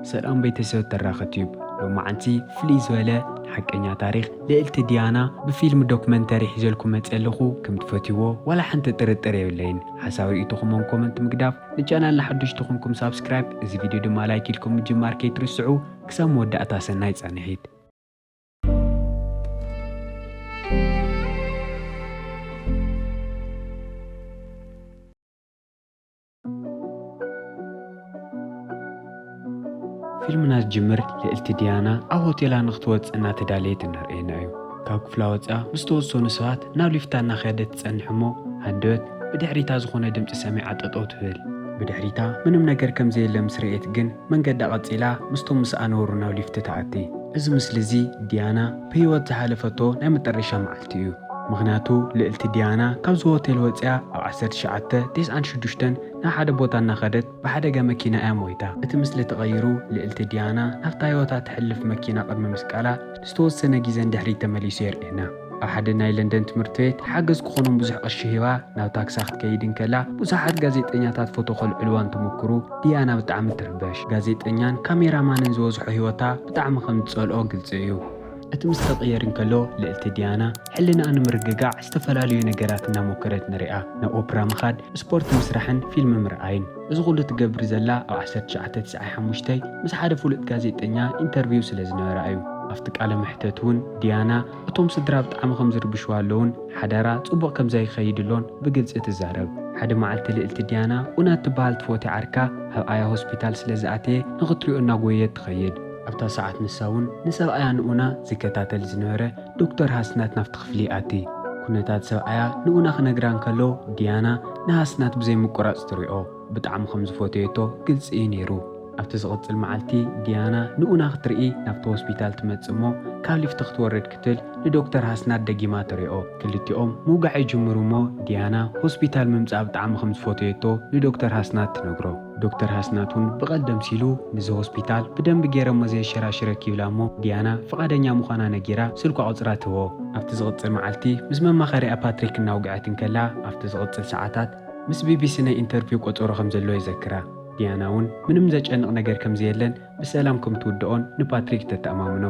ሰላም ቤተሰብ ተራኸ ቲዩብ ሎማዓንቲ ፍልይ ዝበለ ሓቀኛ ታሪኽ ልእልቲ ዲያና ብፊልም ዶክመንተሪ ሒዘልኩ መጸ ኣለኹ ከም ትፈትይዎ ዋላ ሓንቲ ጥርጥር የብለይን ሓሳብ ርእይቶኹም ን ኮመንት ምግዳፍ ንቻናልና ሓደሽቲ ኮንኩም ሳብስክራይብ እዚ ቪድዮ ድማ ላይክ ኢልኩም ምጅማር ከይትርስዑ ክሳብ መወዳእታ ሰናይ ጻንሒት ፊልምና ዝጅምር ልእልቲ ዲያና ኣብ ሆቴላ ንክትወፅእ እናተዳለየት እናርኣየና እዩ። ካብ ክፍላ ወፂኣ ምስ ተወሰኑ ሰባት ናብ ሊፍታ እናኸደት ትፀንሕ እሞ ሃንደበት ብድሕሪታ ዝኾነ ድምፂ ሰሚዓ ጠጠው ትብል። ብድሕሪታ ምንም ነገር ከምዘየለ ምስ ረኤት ግን መንገዳ ቀጺላ ምስቶም ምስኣ ነበሩ ናብ ሊፍቲ ትኣቲ። እዚ ምስሊ እዚ ዲያና ብህይወት ዝሓለፈቶ ናይ መጠረሻ መዓልቲ እዩ። ምኽንያቱ ልእልቲ ዲያና ካብዚ ሆቴል ወጺኣ ኣብ ዓሰርተ ትሽዓተ ቴስዓን ሽዱሽተን ናብ ሓደ ቦታ እናኸደት ብሓደጋ መኪና እያ ሞይታ። እቲ ምስሊ ተቐይሩ ልእልቲ ዲያና ናብታ ህይወታ ተሕልፍ መኪና ቅድሚ ምስቃላ ንዝተወሰነ ግዜ ንድሕሪት ተመሊሱ የርእየና። ኣብ ሓደ ናይ ለንደን ትምህርቲ ቤት ሓገዝ ክኾኖም ብዙሕ ቅርሺ ሂባ ናብ ታክሳ ክትከይድ እንከላ ብዙሓት ጋዜጠኛታት ፎቶ ከልዕልዋ እንትሙኩሩ ዲያና ብጣዕሚ ትርበሽ። ጋዜጠኛን ካሜራ ማንን ዝበዝሖ ህይወታ ብጣዕሚ ከም ዝጸልኦ ግልጺ እዩ። እቲ ምስ ክቕየር እንከሎ ልእልቲ ዲያና ሕልናኣ ንምርግጋዕ ዝተፈላለዩ ነገራት እናሞከረት ንሪኣ። ናብ ኦፕራ ምኻድ፣ ስፖርት ምስራሕን ፊልሚ ምርኣይን። እዚ ኩሉ ትገብር ዘላ ኣብ ዓሰርተ ትሽዓተ ትስዓይ ሓሙሽተ ምስ ሓደ ፍሉጥ ጋዜጠኛ ኢንተርቪው ስለ ዝነበራ እዩ። ኣብቲ ቃለ መሕተት እውን ዲያና እቶም ስድራ ብጣዕሚ ከም ዝርብሽዋ ኣለውን ሓዳራ ጽቡቕ ከም ዘይከይድሎን ብግልጺ ትዛረብ። ሓደ መዓልቲ ልእልቲ ዲያና ኡና እትበሃል ትፎቲ ዓርካ ኣብኣያ ሆስፒታል ስለ ዝኣተየ ንክትሪኦ እናጎየየት ትኸይድ። ኣብታ ሰዓት ንሳ እውን ንሰብኣያ ንኡና ዝከታተል ዝነበረ ዶክተር ሃስናት ናብቲ ክፍሊ ይኣቲ። ኩነታት ሰብኣያ ንኡና ክነግራ እንከሎ ዲያና ንሃስናት ብዘይ ምቁራጽ ትሪኦ። ብጣዕሚ ከም ዝፈተየቶ ግልጺ እዩ ነይሩ። ኣብቲ ዝቕጽል መዓልቲ ዲያና ንኡና ክትርኢ ናብቲ ሆስፒታል ትመጽእ እሞ ካብ ሊፍቲ ክትወርድ ክትል ንዶክተር ሃስናት ደጊማ ትሪኦ። ክልቲኦም ምውጋዕ ይጅምሩ እሞ ዲያና ሆስፒታል ምምጻእ ብጣዕሚ ከም ዝፈተየቶ ንዶክተር ሃስናት ትነግሮ። ዶክተር ሃስናት ውን ብቐልዲ ኣምሲሉ ንዚ ሆስፒታል ብደንቢ ጌረ እሞ ዘየሸራሽረ ኪብላ እሞ ዲያና ፍቓደኛ ምዃና ነጊራ ስልኳ ቁጽራ ትህቦ። ኣብቲ ዝቕጽል መዓልቲ ምስ መማኸሪኣ ፓትሪክ እናውግዐት እንከላ ኣብቲ ዝቕጽል ሰዓታት ምስ ቢቢሲ ናይ ኢንተርቪው ቆጸሮ ከም ዘለዎ ይዘክራ። ዲያና ውን ምንም ዘጨንቕ ነገር ከም ዘየለን ብሰላም ከም ትውድኦን ንፓትሪክ ተተኣማምኖ።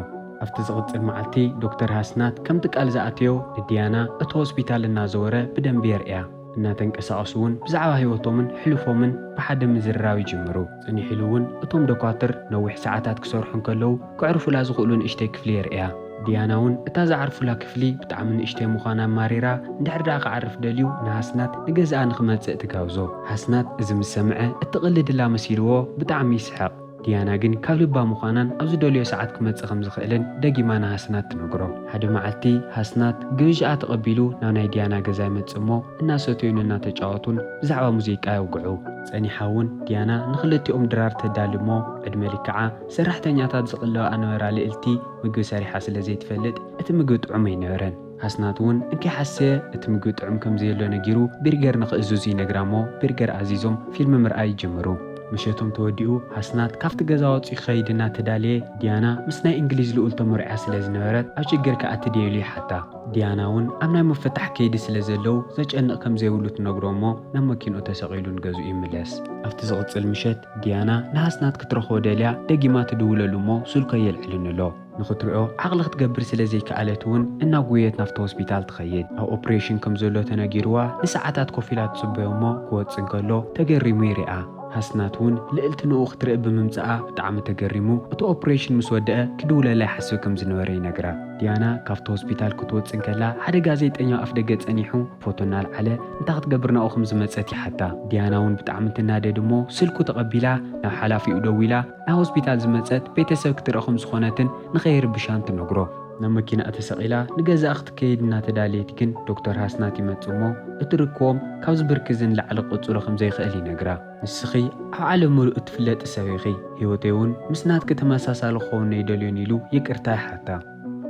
ኣብቲ ዝቕጽል መዓልቲ ዶክተር ሃስናት ከምቲ ቃል ዝኣተዮ ንዲያና እቲ ሆስፒታል እናዘወረ ብደንቢ የርእያ። እናተንቀሳቐሱ እውን ብዛዕባ ህይወቶምን ሕሉፎምን ብሓደ ምዝርራብ ይጅምሩ። ጽኒሕ ኢሉ እውን እቶም ዶኳትር ነዊሕ ሰዓታት ክሰርሑ እንከለዉ ከዕርፉላ ዝኽእሉ ንእሽተይ ክፍሊ የርእያ። ዲያና እውን እታ ዝዓርፉላ ክፍሊ ብጣዕሚ ንእሽተይ ምዃና ኣማሪራ፣ እንድሕር ደኣ ክዓርፍ ደልዩ ንሃስናት ንገዛኣ ንኽመጽእ ትጋብዞ። ሃስናት እዚ ምስ ሰምዐ እትቕልድላ መሲልዎ ብጣዕሚ ይስሕቕ። ዲያና ግን ካብ ልባ ምዃናን ኣብ ዝደልዮ ሰዓት ክመጽእ ከም ዝኽእልን ደጊማ ንሃስናት ትነግሮ። ሓደ መዓልቲ ሃስናት ግብዣኣ ተቐቢሉ ናብ ናይ ዲያና ገዛ ይመጽእ እሞ እናሰተዩን እናተጫወቱን ብዛዕባ ሙዚቃ የውግዑ። ጸኒሓ እውን ዲያና ንኽልቲኦም ድራር ተዳሊ እሞ ዕድመ ልክዓ ሰራሕተኛታት ዝቕልባኣ ነበራ ልእልቲ ምግቢ ሰሪሓ ስለ ዘይትፈልጥ እቲ ምግቢ ጥዑም ኣይነበረን። ኣስናት ውን እንከይሓሰየ እቲ ምግቢ ጥዑም ከምዘየሎ ነጊሩ ቢርገር ንክእዝዙ ይነግራ'ሞ ቢርገር ኣዚዞም ፊልሚ ምርኣይ ይጅምሩ። ምሸቶም ተወዲኡ ኣስናት ካብቲ ገዛ ወጺኡ ክኸይድ እናተዳለየ ዲያና ምስ ናይ እንግሊዝ ልኡል ተመርዕያ ስለዝነበረት ኣብ ሽግር ክኣቲ ድየ ኢሉ ይሓታ። ዲያና ውን ኣብ ናይ ምፍታሕ ከይዲ ስለዘለው ዘጨንቕ ከምዘይብሉ ትነግሮ'ሞ ናብ መኪንኡ ተሰቒሉ ንገዝኡ ይምለስ። ኣብቲ ዝቕጽል ምሸት ዲያና ንኣስናት ክትረኽቦ ደልያ ደጊማ ትድውለሉ'ሞ ስልኩ ኣየልዕልን'ሎ። ንኽትሪኦ ዓቕሊ ክትገብር ስለ ዘይከኣለት እውን እናጎየት ናብቲ ሆስፒታል ትኸይድ። ኣብ ኦፕሬሽን ከም ዘሎ ተነጊሩዋ ንሰዓታት ኮፍ ኢላ ትጽበዮ እሞ ክወጽእ እንከሎ ተገሪሙ ይሪኣ። ሃስናት እውን ልእልቲ ንኡ ክትርኢ ብምምጽኣ ብጣዕሚ ተገሪሙ እቲ ኦፕሬሽን ምስ ወደኣ ክድውለላ ይሓስብ ከም ዝነበረ ይነግራ። ዲያና ካብቲ ሆስፒታል ክትወጽእ እንከላ ሓደ ጋዜጠኛ ኣፍደገ ጸኒሑ ፎቶ እናልዓለ እንታይ ክትገብር ናብኡ ከም ዝመጸት ይሓታ። ዲያና እውን ብጣዕሚ ትናደድ እሞ ስልኩ ተቐቢላ ናብ ሓላፊኡ ደዊላ፣ ናብ ሆስፒታል ዝመጸት ቤተሰብ ክትርኢ ከም ዝኾነትን ንኸይርብሻን ትነግሮ። ናብ መኪናኣ ተሰቒላ ንገዛኣ ክትከይድ እናተዳለየት ግን ዶክተር ሃስናት ይመጽእ እሞ እቲ ርክቦም ካብዚ ብርኪ እዚ ንላዕሊ ክቕጽሎ ከም ዘይክእል ይነግራ። ንስኺ ኣብ ዓለም ምሉእ እትፍለጢ ሰብ ኢኺ፣ ህይወተይ'ውን ምስ ናትኪ ተመሳሳሊ ክኸውን ኣይደልዮን ኢሉ ይቅርታ ይሓታ።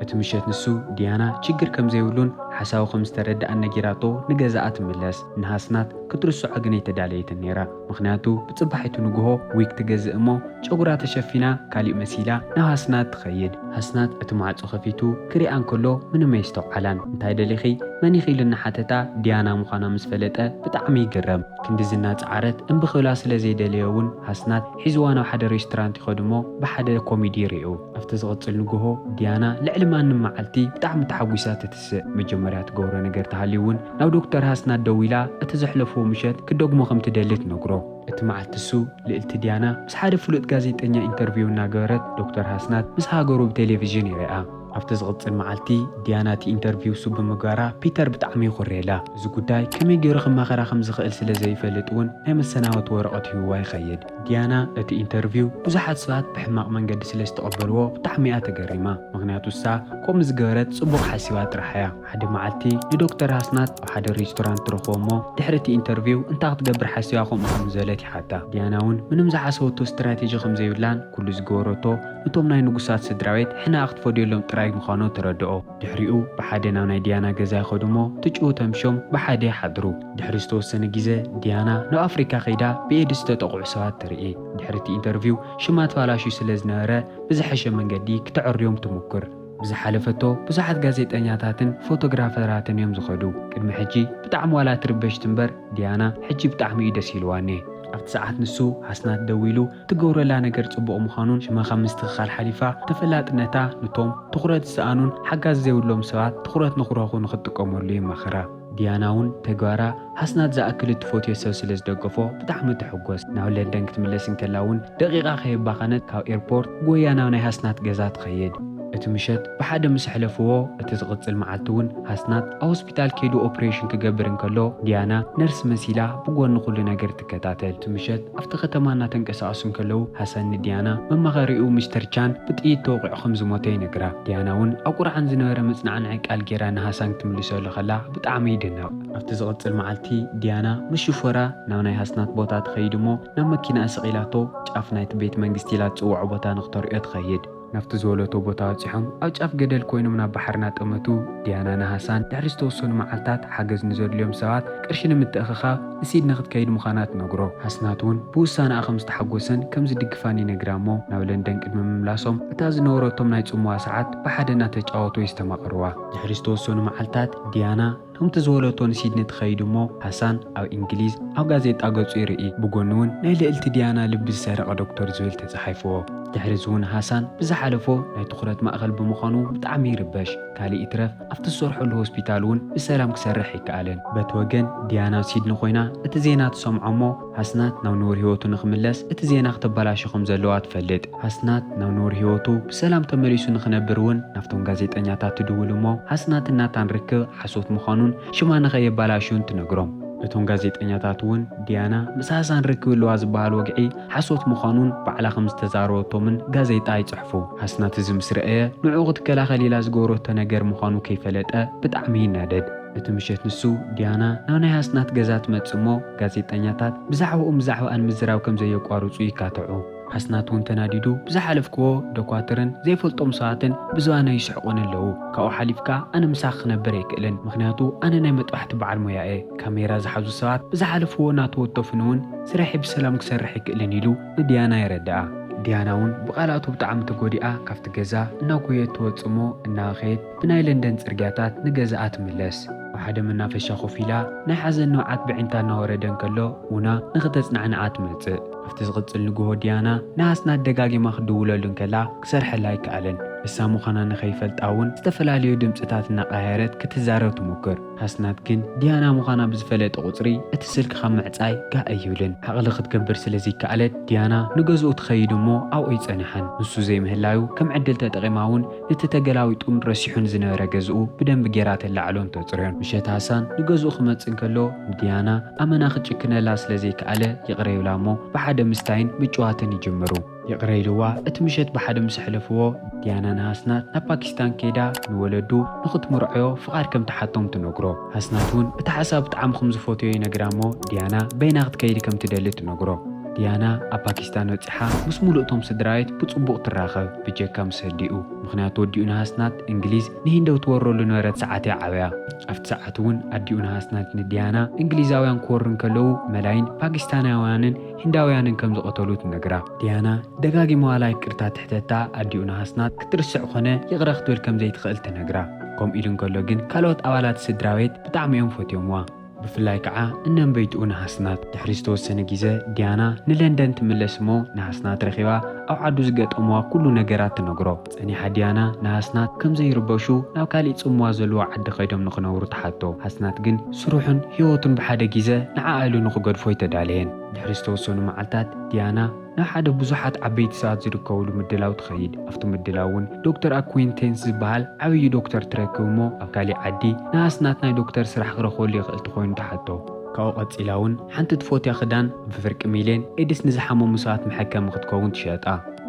እቲ ምሸት ንሱ ዲያና ችግር ከምዘይብሉን ሓሳዊ ከምዝተረደኣን ነጊራቶ ንገዛኣ ትምለስ። ንሃስናት ክትርስዖ ግን ኣይተዳለየትን ነይራ። ምኽንያቱ ብጽባሒቱ ንግሆ ዊግ ትገዝእ እሞ ጨጉራ ተሸፊና ካሊእ መሲላ ናብ ሃስናት ትኸይድ። ሃስናት እቲ ማዕጾ ከፊቱ ክሪኣ እንከሎ ምንም ኣየስተውዓላን። እንታይ ደሊኺ? መን ኢኺ? ኢሉ እናሓተታ ዲያና ምዃና ምስ ፈለጠ ብጣዕሚ ይግረም። ክንድዚ እናጸዓረት እምቢ ክብላ ስለዘይደለየ እውን ሃስናት ሒዝዋ ናብ ሓደ ሬስቶራንት ይኸድ እሞ ብሓደ ኮሚዲ ይሪኡ። ኣብቲ ዝቕጽል ንግሆ ዲያና ልዕሊ ማንም መዓልቲ ብጣዕሚ ተሓጒሳ ትትስእ። መጀመርያ ትገብሮ ነገር ተሃልዩ እውን ናብ ዶክተር ሃስናት ደዊላ እቲ ዘሕለፍዎ ምሸት ክትደግሞ ከም ትደሊ ትነግሮ። እቲ መዓልቲ እሱ ልእልቲ ዲያና ምስ ሓደ ፍሉጥ ጋዜጠኛ ኢንተርቪው እናገበረት ዶክተር ሃስናት ምስ ሃገሩ ብቴሌቪዥን ይሪኣ። ኣብቲ ዝቕጽል መዓልቲ ዲያና እቲ ኢንተርቪው እሱ ብምግባራ ፒተር ብጣዕሚ ይኹርየላ። እዚ ጉዳይ ከመይ ገይሩ ክማኸራ ከም ዝኽእል ስለ ዘይፈልጥ እውን ናይ መሰናበቲ ወረቐት ሂቡዋ ይኸይድ። ዲያና እቲ ኢንተርቪው ብዙሓት ሰባት ብሕማቕ መንገዲ ስለ ዝተቐበልዎ ብጣዕሚ'ያ ተገሪማ ምኽንያቱ እሳ ኮ ምዝገበረት ጽቡቕ ሓሲባ ጥራሕ'ያ ሓደ መዓልቲ ንዶክተር ኣስናት ኣብ ሓደ ሬስቶራንት ትረኽቦ'ሞ ድሕሪ እቲ ኢንተርቪው እንታይ ክትገብር ሓሲባ ከምኡ ከም ዝበለት ይሓታ ዲያና'ውን ምንም ዝሓሰበቶ ስትራቴጂ ከም ዘይብላን ኩሉ ዝገበረቶ ንቶም ናይ ንጉሳት ስድራቤት ሕነኣ ክትፈድየሎም ጥራይ ምዃኑ ተረድኦ ድሕሪኡ ብሓደ ናብ ናይ ዲያና ገዛ ይኸዱ እሞ ትጭው ተምሽዮም ብሓደ ይሓድሩ። ድሕሪ ዝተወሰነ ግዜ ዲያና ናብ ኣፍሪካ ከይዳ ብኤድስ ዝተጠቕዑ ሰባት ትርኢ። ድሕሪ እቲ ኢንተርቪው ሽማ ተባላሽዩ ስለ ዝነበረ ብዝሐሸ መንገዲ ክተዐርዮም ትሙኩር። ብዝሓለፈቶ ብዙሓት ጋዜጠኛታትን ፎቶግራፈራትን እዮም ዝኸዱ። ቅድሚ ሕጂ ብጣዕሚ ዋላ ትርበሽ ትንበር ዲያና ሕጂ ብጣዕሚ እዩ ደስ ኢልዋኔ። ኣብቲ ሰዓት ንሱ ኣስናት ደዊሉ እትገብረላ ነገር ጽቡቕ ምዃኑን ሽማ ካብ ምስትኽኻል ሓሊፋ ተፈላጥነታ ኑቶም ትኹረት ዝሰኣኑን ሓጋዚ ዘይብሎም ሰባት ትኹረት ንኽረኽቡ ንኽትጥቀመሉ የማኽራ። ዲያና እውን ተግባራ ሃስናት ዝኣክል እትፈትዮ ሰብ ስለ ዝደገፎ ብጣዕሚ ትሕጎስ። ናብ ለንደን ክትምለስ እንከላ እውን ደቒቓ ከየባኸነት ካብ ኤርፖርት ጎይያ ናብ ናይ ሃስናት ገዛ ትኸይድ። እቲ ምሸት ብሓደ ምስ ኣሕለፍዎ እቲ ዝቕጽል መዓልቲ እውን ሃስናት ኣብ ሆስፒታል ከይዱ ኦፕሬሽን ክገብር እንከሎ ዲያና ነርስ መሲላ ብጎኒ ኩሉ ነገር ተኸታተልቲ ምሸት ኣብቲ ከተማ እናተንቀሳቐሱ እንከለዉ፣ ሃሰን ንዲያና፣ መማኸሪኡ ሚስተር ቻን፣ ብጥይት ተወቒዑ ከም ዝሞተ ይነግራ። ዲያና'ውን ኣብ ቁርዓን ዝነበረ መጽናዕንዒ ቃል ገይራ ንሃሳን ክትምልሰሉ ከላ ብጣዕሚ ይድነቕ። ኣብቲ ዝቕጽል መዓልቲ፣ ዲያና ምስ ሽፎራ ናብ ናይ ሃስናት ቦታ ትኸይድ'ሞ፣ ናብ መኪናኣ ሰቒላቶ ጫፍ ናይቲ ቤት መንግስቲ ኢላ ትጽውዖ ቦታ ንኽተርእዮ ትኸይድ። ናብቲ ዝወለቶ ቦታ በጺሖም ኣብ ጫፍ ገደል ኮይኖም ናብ ባሕሪ ናጠመቱ፣ ዲያና ን ሃሳን ድሕሪ ዝተወሰኑ መዓልታት ሓገዝ ንዘድልዮም ሰባት ቅርሺ ንምትእኽኻብ ንሲድኒ ክትከይድ ምዃና ትነግሮ። ሃስናት እውን ብውሳነኣ ከም ዝተሓጎሰን ከም ዝድግፋን ይነግራ እሞ ናብ ለንደን ቅድሚ ምምላሶም እታ ዝነበረቶም ናይ ጽምዋ ሰዓት ብሓደ እናተጫወቱ የስተማቕርዋ። ድሕሪ ዝተወሰኑ መዓልታት ዲያና። ከምቲ ዝወለቶ ንሲድኒ ትኸይድ እሞ ሃሳን ኣብ እንግሊዝ ኣብ ጋዜጣ ገጹ ይርኢ። ብጎኑ ውን ናይ ልእልቲ ዲያና ልቢ ዝሰረቐ ዶክቶር ዝብል ተጻሒፍዎ። ድሕሪ እዚ ውን ሃሳን ብዝሓለፎ ናይ ትኹረት ማእከል ብምዃኑ ብጣዕሚ ይርበሽ። ካልእ ይትረፍ ኣብቲ ዝሰርሐሉ ሆስፒታል ውን ብሰላም ክሰርሕ ኣይከኣለን። በቲ ወገን ዲያና ሲድኒ ኮይና እቲ ዜና ትሰምዖ እሞ ሃስናት ናብ ንቡር ህይወቱ ንኽምለስ እቲ ዜና ክተበላሾ ከም ዘለዋ ትፈልጥ። ሃስናት ናብ ንቡር ህይወቱ ብሰላም ተመሊሱ ንኽነብር እውን ናብቶም ጋዜጠኛታት ትድውል እሞ ሃስናትን ናታን ርክብ ሓሶት ምዃኑን ሽማ ንኸየበላሹን ትነግሮም። እቶም ጋዜጠኛታት እውን ዲያና ምስ ሃሳን ርክብ ኣለዋ ዝበሃል ወግዒ ሓሶት ምዃኑን ባዕላ ከም ዝተዛረበቶምን ጋዜጣ ይጽሕፉ። ሃስናት እዚ ምስ ረኣየ ንዕኡ ክትከላኸል ኢላ ዝገበረቶ ነገር ምዃኑ ከይፈለጠ ብጣዕሚ ይናደድ። እቲ ምሸት ንሱ፣ ዲያና፣ ናብ ናይ ኣስናት ገዛ ትመጽእ እሞ፣ ጋዜጠኛታት ብዛዕባኡን ብዛዕባኣን ምዝራብ ከም ዘየቋርጹ ይካትዑ። ኣስናት እውን ተናዲዱ፣ ብዝሓለፍክዎ ደኳትርን ዘይፈልጦም ሰባትን ብዝባና ይስሕቑኒ ኣለዉ። ካብኡ ሓሊፍካ ኣነ ምሳኺ ክነብር ኣይክእልን፣ ምኽንያቱ ኣነ ናይ መጥባሕቲ በዓል ሞያ እየ። ካሜራ ዝሓዙ ሰባት ብዝሓለፍዎ እናተወተፉኒ እውን ስርሐይ ብሰላም ክሰርሕ ኣይክእልን ኢሉ ንዲያና የረድኣ። ዲያና እውን ብቓላቱ ብጣዕሚ ተጎዲኣ ካብቲ ገዛ እናጎየየት ትወጽእ እሞ እናበኸየት፣ ብናይ ለንደን ጽርግያታት ንገዛኣ ትምለስ። ኣብ ሓደ መናፈሻ ኮፍ ኢላ ናይ ሓዘን ንብዓት በዒንታ እናወረደ እንከሎ ኡና ንኽተጽናዕንዓ ትመጽእ። ኣብቲ ዝቕጽል ንግሆ ዲያና ንሃስናት ደጋጊማ ክትድውለሉ እንከላ ክሰርሐላ ኣይከኣለን። ንሳ ምዃና ንኸይፈልጣ እውን ዝተፈላለዩ ድምጽታት እናቐያየረት ክትዛረብ ትሙክር። ሃስናት ግን ዲያና ምዃና ብዝፈለጠ ቁጽሪ እቲ ስልኪ ካብ ምዕጻይ ጋእ ኣይብልን። ዓቕሊ ክትገብር ስለ ዘይከኣለት ዲያና ንገዝኡ ትኸይድ እሞ ኣብኡ ኣይጸንሓን። ንሱ ዘይምህላዩ ከም ዕድል ተጠቒማ እውን እቲ ተገላዊጡን ረሲሑን ዝነበረ ገዝኡ ብደንቢ ጌራ ተላዕሎን ተጽርዮን። ምሸት ሃሳን ንገዝኡ ክመጽእ እንከሎ ንድያና ኣመና ክጭክነላ ስለ ዘይከኣለ ይቕረ ይብላ'ሞ ብሓደ ምስታይን ምጭዋትን ይጅምሩ። ይቕረ ኢልዋ እቲ ምሸት ብሓደ ምስ ኣሕለፍዎ ድያና ንሃስናት ናብ ፓኪስታን ከይዳ ንወለዱ ንኽትምርዖዮ ፍቓድ ከም ትሓቶም ትነግሮ። ኣስናት እውን እቲ ሓሳብ ብጣዕሚ ክም ዝፈትዮ ይነግራ እሞ ዲያና በይና ክትከይድ ከም ትደሊ ትነግሮ። ዲያና ኣብ ፓኪስታን በጺሓ ምስ ሙሉእ እቶም ስድራቤት ብጽቡቕ ትራኸብ ብጀካ ምስ ህዲኡ። ምኽንያቱ ወዲኡ ንሃስናት እንግሊዝ ንሂንዲ ኣብ ትወረሉ ዝነበረት ሰዓት እያ ዓብያ። ኣብቲ ሰዓት እውን ኣዲኡ ንሃስናት ንዲያና እንግሊዛውያን ክወሩ እንከለዉ መላይን ፓኪስታናውያንን ሂንዳውያንን ከም ዝቐተሉ ትነግራ። ዲያና ደጋጊማዋላ ይቅርታ ትሕተታ፣ ኣዲኡ ንሃስናት ክትርስዕ ኮነ ይቕረ ክትብል ከም ዘይትኽእል ትነግራ። ከምኡ ኢሉ እንከሎ ግን ካልኦት ኣባላት ስድራቤት ብጣዕሚ እዮም ፈትዮምዋ። ብፍላይ ከዓ እነንበይትኡ ንሃስናት። ድሕሪ ዝተወሰነ ግዘ ዲያና ንለንደን ትምለስ እሞ ንሃስናት ረኺባ ኣብ ዓዱ ዝገጠምዋ ኩሉ ነገራት ትነግሮ። ጸኒሓ ዲያና ንሃስናት ከም ዘይርበሹ ናብ ካሊእ ጽምዋ ዘለዎ ዓዲ ከይዶም ንክነብሩ ትሓቶ። ሃስናት ግን ስርሑን ህይወቱን ብሓደ ጊዘ ንዓኣ ኢሉ ንክገድፎ ኣይተዳለየን። ድሕሪ ዝተወሰኑ መዓልታት ዲያና ናብ ሓደ ብዙሓት ዓበይቲ ሰባት ዝርከብሉ ምድላው ትኸይድ። ኣብቲ ምድላው እውን ዶክተር ኣኩይንቴንስ ዝበሃል ዓብዪ ዶክተር ትረክብ እሞ ኣብ ካሊእ ዓዲ ንሃስናት ናይ ዶክተር ስራሕ ክረኽበሉ ይኽእል ተኾይኑ ትሓቶ። ካብኡ ቀጺላ ውን ሓንቲ ትፎትያ ክዳን ብፍርቂ ሚልዮን ኤድስ ንዝሓመሙ ሰባት መሐከሚ ክትከውን ትሸጣ።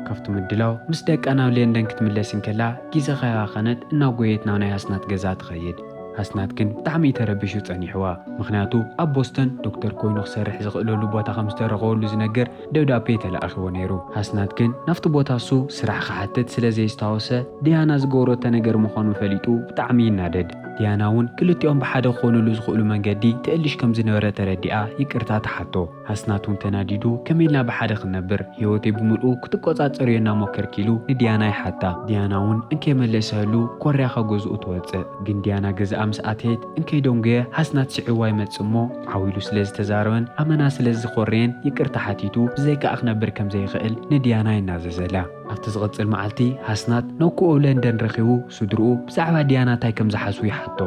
ካብቲ ምድላው ምስ ደቃ ናብ ሌንደን ክትምለስ እንከላ ጊዘ ከይባኸነት እናጎየየት ናብ ናይ ኣስናት ገዛ ትኸይድ። ኣስናት ግን ብጣዕሚ እዩ ተረቢሹ ጸኒሕዋ። ምኽንያቱ ኣብ ቦስተን ዶክተር ኮይኑ ክሰርሕ ዝኽእለሉ ቦታ ከም ዝተረኸበሉ ዝነግር፣ ደብዳቤ ተላኢኽዎ ነይሩ። ሃስናት ግን ናብቲ ቦታ እሱ ስራሕ ክሓትት ስለ ዘየስታወሰ ድያና ዝገበሮቶ ነገር ምዃኑ ፈሊጡ ብጣዕሚ ይናደድ። ድያና እውን ክልቲኦም ብሓደ ክኾኑሉ ዝኽእሉ መንገዲ ትእልሽ ከም ዝነበረ ተረዲኣ ይቅርታ ትሓቶ። ሃስናት እውን ተናዲዱ ከመይ ኢልና ብሓደ ክንነብር ህይወተይ ብምልኡ ክትቆፃፀርዮ እናሞከርኪ ኢሉ ንድያና ይሓታ። ድያና እውን እንከይመለሰህሉ ኮርያ ካብ ገዝኡ ትወፅእ። ግን ድያና ገዝኣ ምስ ኣተየት፣ እንከይ ዶንገ ሃስናት ስዒብዋ ይመጽእ እሞ፣ ዓው ኢሉ ስለ ዝተዛረበን ኣመና ስለ ዝዀረየን ይቅርታ ሓቲቱ ብዘይካኣ ክነብር ከም ዘይኽእል ንድያና ይናዘዘላ። ኣብቲ ዝቕጽል መዓልቲ፣ ሃስናት ነኩኡ ለንደን ረኺቡ ስድርኡ ብዛዕባ ድያና እንታይ ከም ዝሓስቡ ይሓቶ።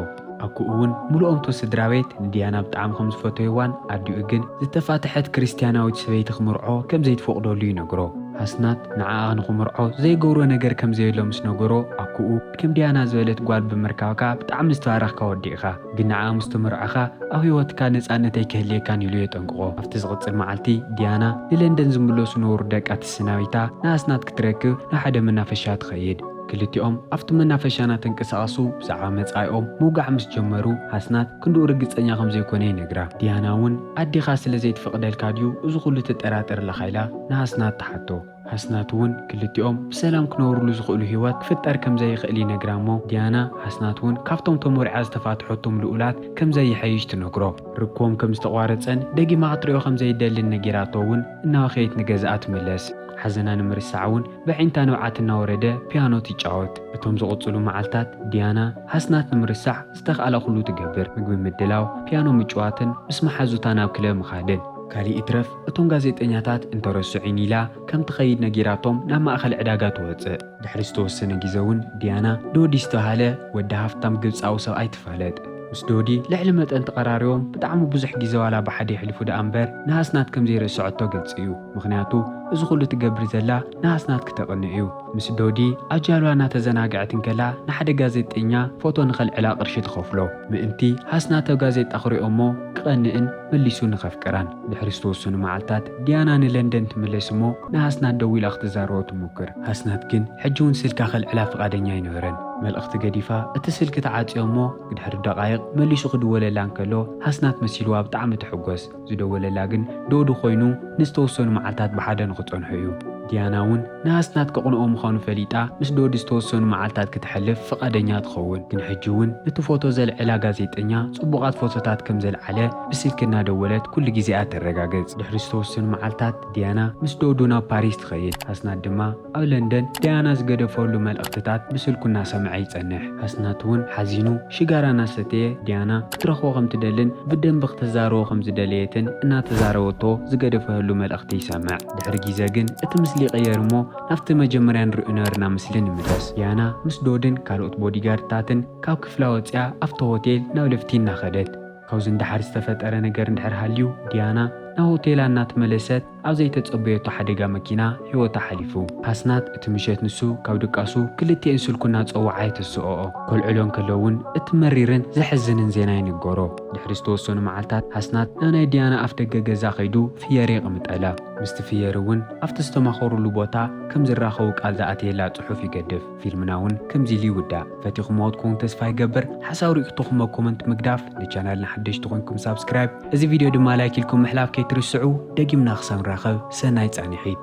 ኣኩኡ'ውን ምሉኦም'ቶ ስድራ ቤት ንድያና ብጣዕሚ ከም ዝፈተዩዋን ኣዲኡ ግን ዝተፋትሐት ክርስትያናዊት ሰበይቲ ክምርዖ ከም ዘይትፈቕደሉ ይነግሮ። ሃስናት ንዓኣ ንኽምርዖ ዘይገብሮ ነገር ከም ዘየሎ ምስ ነገሮ ኣኩኡ፣ ከም ዲያና ዝበለት ጓል ብምርካብካ ብጣዕሚ ዝተባረኽካ ወዲ ኢኻ ግን ንዓኣ ምስ ተመርዖኻ ኣብ ህይወትካ ነጻነት ኣይክህልየካን ኢሉ የጠንቅቖ። ኣብቲ ዝቕጽል መዓልቲ ዲያና ንለንደን ዝምለሱ ነበሩ ደቃ ተሰናቢታ ንኣስናት ክትረክብ ናብ ሓደ መናፈሻ ትኸይድ። ክልቲኦም ኣብቲ መናፈሻ እናተንቀሳቐሱ ብዛዕባ መጻኢኦም ምውጋዕ ምስ ጀመሩ ኣስናት ክንድኡ ርግጸኛ ከም ዘይኮነ ይነግራ። ዲያና እውን ኣዴኻ ስለ ዘይትፈቕደልካ ድዩ እዚ ኹሉ ትጠራጠር ኣለኻ ኢላ ንኣስናት ትሓቶ። ኣስናት እውን ክልቲኦም ብሰላም ክነብሩሉ ዝኽእሉ ህይወት ክፍጠር ከም ዘይኽእል ይነግራ እሞ ዲያና ኣስናት እውን ካብቶም ተሞሪዓ ዝተፋትሐቶም ልኡላት ከም ዘይሐይሽ ትነግሮ። ርክቦም ከም ዝተቋረጸን ደጊማ ክትሪኦ ከም ዘይደልን ነጊራቶ እውን እናበኸየት ንገዝኣ ትምለስ። ሓዘና ንምርሳዕ እውን በዒንታ ንብዓት እናወረደ ፒያኖ ትጫወት። እቶም ዝቕጽሉ መዓልታት ዲያና ኣስናት ንምርሳዕ ዝተኽኣላ ኩሉ ትገብር። ምግቢ ምድላው፣ ፒያኖ ምጭዋትን ምስ መሓዙታ ናብ ክለብ ምኻድን። ካሊእ ይትረፍ እቶም ጋዜጠኛታት እንተረስዑኒ ኢላ ከም ትኸይድ ነጊራቶም ናብ ማእኸል ዕዳጋ ትወፅእ። ድሕሪ ዝተወሰነ ግዘ እውን ዲያና ዶዲ ዝተብሃለ ወዲ ሃፍታም ግብፃዊ ሰብኣይ ትፋለጥ። ምስ ዶዲ ልዕሊ መጠን ተቐራሪቦም ብጣዕሚ ብዙሕ ግዘ ዋላ ብሓደ የሕልፉ ደኣ እምበር ንሃስናት ከም ዘይረስዐቶ ግልፂ እዩ። ምኽንያቱ እዚ ኹሉ ትገብር ዘላ ንሃስናት ክተቕንእ እዩ። ምስ ዶዲ ኣብ ጃልባ እናተዘናገዐት እንከላ ንሓደ ጋዜጠኛ ፎቶ ንኸልዕላ ቅርሺ ትኸፍሎ ምእንቲ ሃስናት ኣብ ጋዜጣ ክሪኦ እሞ ክቐንእን መሊሱ ንኸፍቅራን። ድሕሪ ዝተወሰኑ መዓልታት፣ ዲያና ንለንደን ትምለስ እሞ ንሃስናት ደዊላ ክትዛረቦ ትሙክር። ሃስናት ግን ሕጂ'ውን ስልካ ከልዕላ ፍቓደኛ ኣይነበረን። መልእኽቲ ገዲፋ እቲ ስልኪ ትዓጽዮ እሞ ብድሕሪ ደቓይቕ መሊሱ ክድወለላ እንከሎ ሃስናት መሲልዋ ብጣዕሚ ትሕጎስ። ዝደወለላ ግን ዶዱ ኮይኑ ንዝተወሰኑ መዓልታት ብሓደ ንኽጸንሑ እዩ። ዲያና እውን ንኣስናት ከቕንኦ ምዃኑ ፈሊጣ ምስ ዶዲ ዝተወሰኑ መዓልታት ክተሕልፍ ፍቓደኛ ትኸውን። ግን ሕጂ እውን ነቲ ፎቶ ዘልዕላ ጋዜጠኛ ጽቡቓት ፎቶታት ከም ዘልዓለ ብስልኪ እናደወለት ኩሉ ግዜኣ ተረጋግጽ። ድሕሪ ዝተወሰኑ መዓልታት ዲያና ምስ ዶዱ ናብ ፓሪስ ትኸይድ። ኣስናት ድማ ኣብ ለንደን ዲያና ዝገደፈሉ መልእኽትታት ብስልኩ እናሰምዐ ይጸንሕ። ኣስናት እውን ሓዚኑ ሽጋራ እናሰተየ ዲያና ክትረኽቦ ከም ትደልን ብደንቢ ክተዛርቦ ከም ዝደለየትን እናተዛረበቶ ዝገደፈህሉ መልእኽቲ ይሰምዕ። ድሕሪ ጊዘ ግን እቲ ምስሊ ይቕየር እሞ ናብቲ መጀመርያ ንሪኦ ነበርና ምስሊ ንምለስ። ዲያና ምስ ዶድን ካልኦት ቦዲጋርድታትን ካብ ክፍላ ወጺኣ ኣብቲ ሆቴል ናብ ለፍቲ እናኸደት። ካብዚ ንደሓር ዝተፈጠረ ነገር እንድሕር ሃልዩ ዲያና ናብ ሆቴላ እናተመለሰት ኣብ ዘይተጸበየቶ ሓደጋ መኪና ህይወታ ሓሊፉ። ኣስናት እቲ ምሸት ንሱ ካብ ድቃሱ ክልቲኤን ስልኩ እናጸወዓ የተስኦኦ። ከልዕሎ እንከሎ እውን እቲ መሪርን ዘሕዝንን ዜና ይንገሮ። ድሕሪ ዝተወሰኑ መዓልታት ኣስናት ናብ ናይ ዲያና ኣፍደገ ገዛ ከይዱ ፍየሪ ይቕምጠላ። ምስቲ ፍየሪ እውን ኣብቲ ዝተማኸሩሉ ቦታ ከም ዝራኸቡ ቃል ዝኣተየላ ፅሑፍ ይገድፍ። ፊልምና እውን ከምዚ ኢሉ ይውዳእ። ፈቲኹምዎ ትኮኑ ተስፋ ይገብር። ሓሳብ ሪኢክቶኹምዎ ኮመንት ምግዳፍ፣ ንቻናልና ሓደሽቲ ኮይንኩም ሳብስክራይብ፣ እዚ ቪድዮ ድማ ላይክ ኢልኩም ምሕላፍ ከይትርስዑ። ደጊምና ክሳብ ንራኸብ ሰናይ ፃንሒት።